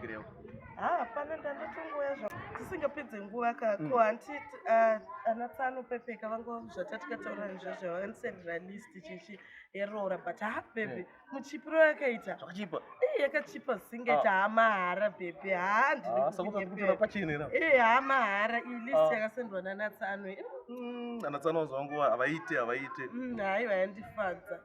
Gireo. Ah, pana ndandotongoya zva tisingapedze nguva ka ko hanti ah, ana tsano pepeka vangu zvatatika taura nezvazvo vanisendera list chichi yeroora but ha bhebhi muchipiro yakaita Zvakachipa. Eh, yakachipa zingeta ha mahara bhebhi ha ndiri Ah, saka kuti kunyepera. kutora pachine na. Eh, ha mahara iyi list Ah. yakasendwa nana tsano iyi. Mm, Ana tsano vangu havaite havaite. Mm, haiwa yandifadza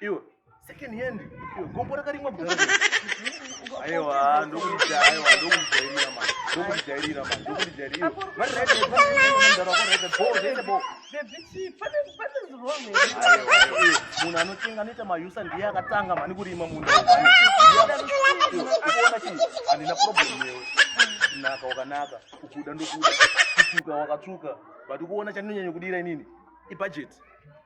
iwe second hand iwe gombo rakarimwa bwa aiwa ndokuita aiwa ndokujairira manje ndokujairira manje ndokujairira vari right vari right ndara kwa right bo zese bo munhu anotenga anoita mayusa ndiye akatanga mani kurima munhu uona chinhu handina problem yewe kunaka wakanaka ukuda ndokuda kutuka wakatsvuka but ukuona chandinonyanya kudira inini ibudget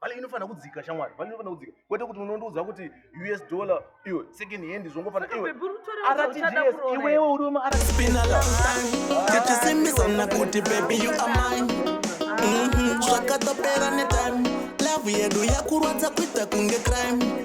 vale inofanira kudzika shamwari vale inofanira kudzika kwete kuti unondiudza kuti us dollar iwe second hand zvongofanira iwe rtgs iwewe uri wemaratisimbisana kuti baby you are mine mhm, zvakatopera netime love yedu yakurwadza kuita kunge crime